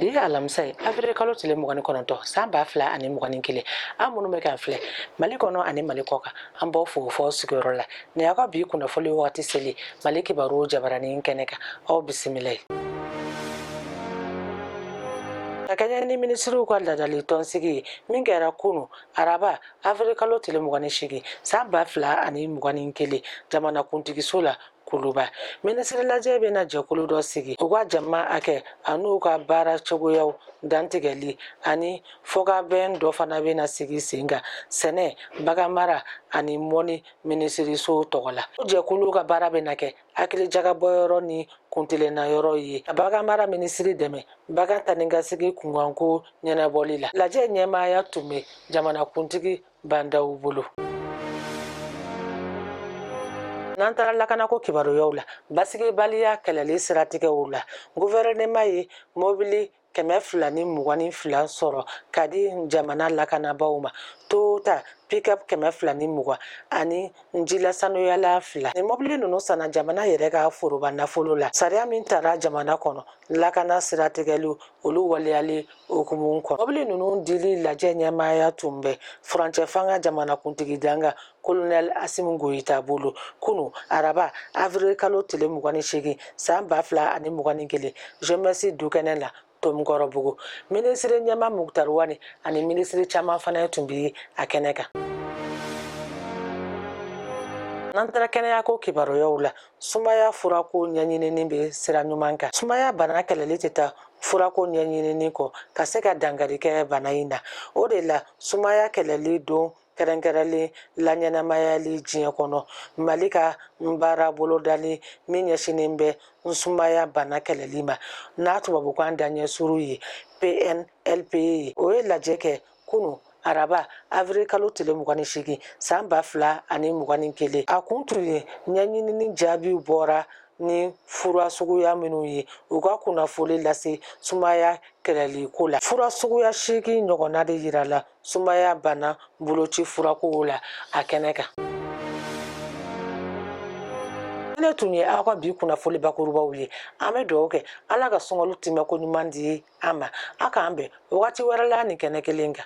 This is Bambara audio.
bi ye alamisa ye avril kalo tile mugan ni kɔnɔntɔn san ba fila ani mugan ni kelen aw minnu bɛ k'an filɛ mali kɔnɔ ani mali kɔ kan an b'aw fo f'aw sigiyɔrɔ la nin y'aw ka bi kunnafoli wagati selen ye mali kibaru jabaranin kɛnɛ kan aw bisimilayi ka kɛɲɛ ni minisiriw ka laadali tɔnsigi ye min kɛra kunu araba avril kalo tile mugan ni seegin san ba fila ani mugan ni kelen jamanakuntigiso la kuluba minisirilajɛ bɛna jɛkulu dɔ sigi u ka jama hakɛ ani u ka baara cogoyaw dantigɛli ani fɔkabɛn dɔ fana bɛ na sigi sen kan sɛnɛ bagan mara ani mɔnni minisiriso tɔgɔ la o jɛkulu ka baara bɛ na kɛ hakilijagabɔ yɔrɔ ni kuntilenna yɔrɔ ye ka bagan mara minisiri dɛmɛ bagan taanikasegin kunkanko ɲɛnabɔli la lajɛ ɲɛmaaya tun bɛ jamanakuntigi ba ndaw bolo n'an taara lakanako kibaruyaw la basigibaliya kɛlɛli siratigɛw la gofɛrɛnema ye mɔbili kɛmɛ fila ni mugan ni fila sɔrɔ ka di jamana lakanabaaw ma toyota pickup kɛmɛ fila ni mugan ani jilasanuyalan fila nin mɔbili ninnu sanna jamana yɛrɛ ka foroba nafolo la sariya min tara jamana kɔnɔ lakana siratigɛ la olu waleyali hukumu kɔnɔ mɔbili ninnu dili lajɛ ɲɛmaaya tun bɛ furancɛ fanga jamanakuntigi dankan kolonɛl asimi goyita bolo kunu araba avril kalo tile mugan ni seegin san ba fila ani mugan ni kelen jemɛsi dukɛnɛ la tomikɔrɔbugu minisiri ɲɛmaa mukutari wani ani minisiri caman fana tun bi a kɛnɛ kan n'an taara kɛnɛyako kibaruyaw la sumaya furako ɲɛɲinini bɛ sira ɲuman kan sumaya bana kɛlɛli tɛ taa furako ɲɛɲinini kɔ ka se ka dankari kɛ bana in na o de la sumaya kɛlɛli don kɛrɛnkɛrɛnlen laɲɛnamayali diɲɛ kɔnɔ mali ka n baara bolodali min ɲɛsinnen bɛ n sumaya bana kɛlɛli ma n'a tubabukan daɲɛ surun ye pnlp ye o ye lajɛ kɛ kunun araba avril kalo tile mugan ni seegin san ba fila ani mugan ni kelen a kun tun ye ɲɛɲinini jaabiw bɔra ni fura suguya minnu ye u ka kunnafoli lase sumaya kɛlɛliko la fura suguya seegin ɲɔgɔnna de yira la sumaya bana boloci furakow la a kɛnɛ kan nin tun ye aw ka bi kunnafoli bakurubaw ye an bɛ dugawu kɛ ala ka sunkalo tɛmɛko ɲuman di an ma a k'an bɛn wagati wɛrɛ la nin kɛnɛ kelen kan